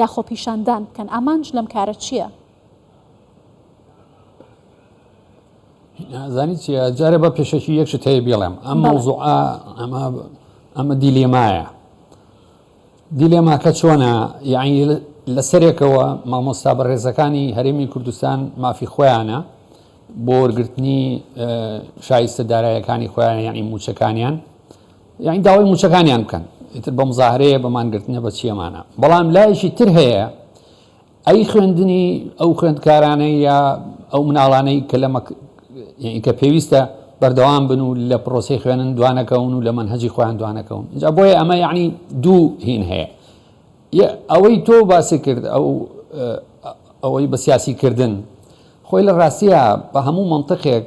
یا خۆپیشاندان بکەن ئامانج لەم کارە چیە؟ زانی چیە جارێ بە پێشەکی یەک شت هەیە بێڵێم ئەم مەوزوع ئەمە ئەمە دیلێمایە دیلێماکە چۆنە یعنی لە سەرێکەوە مامۆستا بە ڕێزەکانی هەرێمی کوردستان مافی خۆیانە بۆ وەرگرتنی شایستە دارایەکانی خۆیان یعنی موچەکانیان یانی داوای موچەکانیان بکەن ئیتر بە مزاهرەیە بە مانگرتنە بە چیەمانە بەڵام لایەکی تر هەیە ئەی خوێندنی ئەو خوێندکارانەی یا ئەو مناڵانەی کە لەمە کە پێویستە بەردەوام بن و لە پرۆسی خوێنن دوانەکەون و لە منهجی خۆیان دوانەکەون جا بۆیە ئەمە یعنی دوو هین هەیە ئەوەی تۆ باسی کرد ئەو ئەوەی بە سیاسی کردن خۆی لە ڕاستیە بە هەموو منطقێک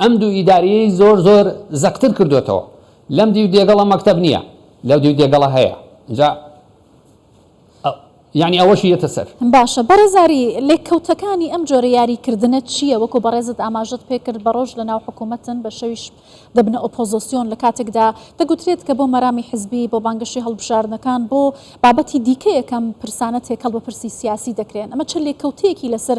ئەم دوو ئیدارەیەی زۆر زۆر زەقتر کردۆتەوە لەم دیو دێگەڵە مەکتەب نیە لەو دیو دێگەڵە هەیە ئینجا یانی ئەوەشی یەتە سەر. باشە بەڕێز ئاری لێککەوتەکانی ئەم جۆرە یاری کردنە چیە وەکو بەڕێزت ئاماژەت پێ کرد بە ڕۆژ لە ناو حکومەتن بە شەویش دەبنە ئۆپۆزۆسیۆن لە کاتێکدا دەگوترێت کە بۆ مەرامی حزبی بۆ بانگەشەی هەڵبژاردنەکان بۆ بابەتی دیکەیەکەم پرسانە تێکەڵ بە پرسی سیاسی دەکرێن ئەمە چ لێککەوتەیەکی لەسەر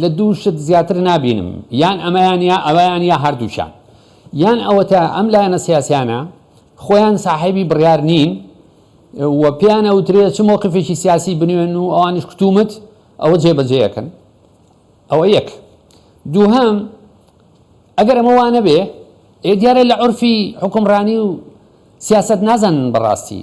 لە دوو شت زیاتر نابینم، یان ئەمەیان یا ئەوەیان یا هەردووکیان. یان ئەوەتا ئەم لایەنە سیاسیانە خۆیان ساحێبی بڕیار نین و پێیان ئەوترێ چ مەوقیفێکی سیاسی بنوێن و ئەوانیش کوتومت ئەوە جێبەجێ ئەکەن. ئەوە یەک. دووهەم، ئەگەر ئەمە وا نەبێ، ئێ دیارە لە عورفی حوکمڕانی و سیاسەت نازانن بەڕاستی.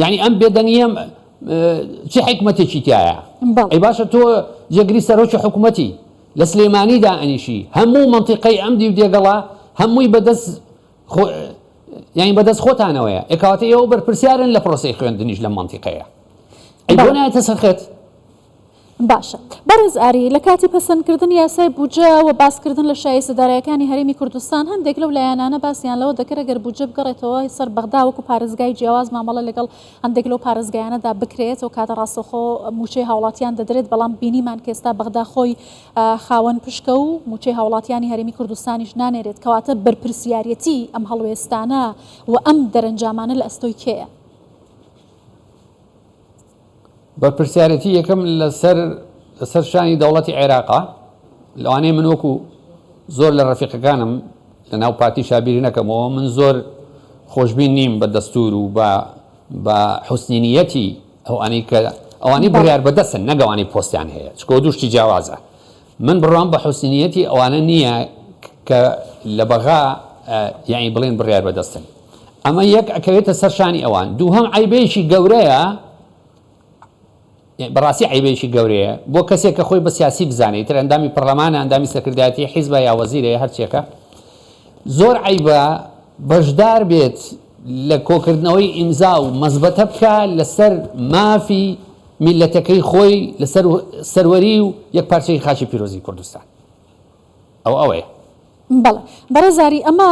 یانی ئەم بێدەنگیە چ حیکمەتێکی تیایە؟ ئەی باشە تۆ جێگری سەرۆکی حکومەتی، لە سلێمانی دائەنیشی، هەموو مەنتیقەی ئەم دیو دێگەڵە هەمووی بەدەست یانی بەدەست خۆتانەوەیە، ئەی کەواتە ئێوە بەرپرسیارن لە پرۆسەی خوێندنیش لەم مەنتیقەیە، ئەی بۆ نایەتە سەر خەت؟ باشە بەڕێز ئاری، لە کاتی پەسەندکردنی یاسای بودجە و باسکردن لە شایستە دارایەکانی هەرێمی کوردستان، هەندێک لەو لایەنانە باسیان لەوە دەکرد ئەگەر بودجە بگەڕێتەوە سەر بەغدا وەکو پارێزگای جیاواز مامەڵە لەگەڵ هەندێک لەو پارێزگایانەدا بکرێت و کاتە ڕاستەوخۆ موچەی هاوڵاتیان دەدرێت بەڵام بینیمان کە ئێستا بەغدا خۆی خاوەن پشکە و موچەی هاوڵاتیانی هەرێمی کوردستانیش نانێرێت کەواتە بەرپرسیاریەتی ئەم هەڵوێستانە و ئەم دەرەنجامانە لە ئەستۆی کێیە؟ بەرپرسیارێتی یەکەم لەسەر لەسەر شانی دەوڵەتی عێراقە لەوانەیە من وەکو زۆر لە ڕەفیقەکانم لە ناو پارتی شابیری نەکەمەوە من زۆر خۆشببین نیم بە دەستور و بە بە حوسنینیەتی ئەوانەی کە ئەوانەی بڕیار بەدەستن نەگەوانەی پۆستیان هەیە چکۆ دووشتی جیاوازە من بڕوام بە حوسنیەتی ئەوانە نیە کە لە بەغا یانی بڵێن بڕیار بەدەستن ئەمە یەک ئەکەوێتە سەر شانی ئەوان دووهەم عیبێکی گەورەیە بەڕاستی عیبێکی گەورەیە بۆ کەسێک کە خۆی بە سیاسی بزانێت تر ئەندامی پەرلەمانە ئەندامی سەکردایەتی حیزبە یا وەزیرەیە هەرچێکە زۆر عیبە بەشدار بێت لە کۆکردنەوەی ئیمزا و مەزبەتە بکە لەسەر مافی میللەتەکەی خۆی لەسەر سەروەری و یەکپارچەیی خاکی پیرۆزی کوردستان ئەو ئەوەیە. بەڵێ بەڕێز ئاری ئەمە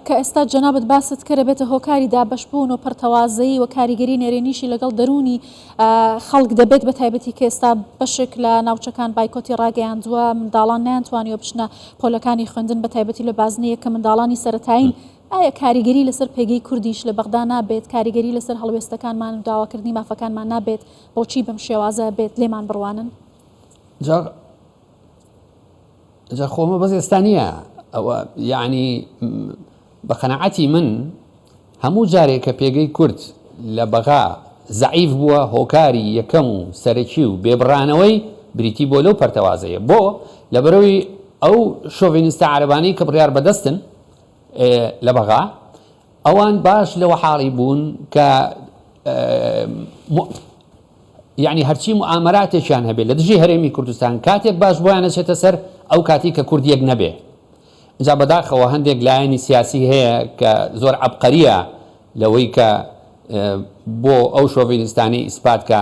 کە ئێستا جەنابت باست کرد ئەبێتە هۆکاری دابەشبوون و پەڕتەوازەیی و کاریگەری نەرێنیشی لەگەڵ دەروونی خەڵک دەبێت بە تایبەتی کە ئێستا بەشێک لە ناوچەکان بایکۆتی ڕاگەیاندووە منداڵان نەیانتوانیوە بچنە پۆلەکانی خوێندن بە تایبەتی لە بازنەیەک کە منداڵانی سەرەتایین ئایا کاریگەری لەسەر پێگەی کوردیش لە بەغدا نابێت، کاریگەری لەسەر هەڵوێستەکانمان و داواکردنی مافەکانمان نابێت، بۆچی بەم شێوازە بێت لێمان بڕوانن؟ جا جا خۆ ئەمە بەس ئێستا نییە، ئەوە یەعنی بە قەناعەتی من هەموو جارێک کە پێگەی کورد لە بەغا زەعیف بووە هۆکاری یەکەم و سەرەکی و بێبڕانەوەی بریتی بۆ لەو پەرتەوازەیە بۆ لەبەرەوەی ئەو شۆڤێنیستە عەرەبانەی کە بڕیار بەدەستن لە بەغا ئەوان باش لەوە حاڵی بوون کە یعنی هەرچی معامراتێکیان هەبێت لە دژی هەرێمی کوردستان کاتێک باش بۆیان نەچێتە سەر ئەو کاتی کە کوردیەک نەبێ جا بەداخەوە هەندێک لایەنی سیاسی هەیە کە زۆر عبقەریە لەوەی کە بۆ ئەو شۆڤینستانی ئیسپات کە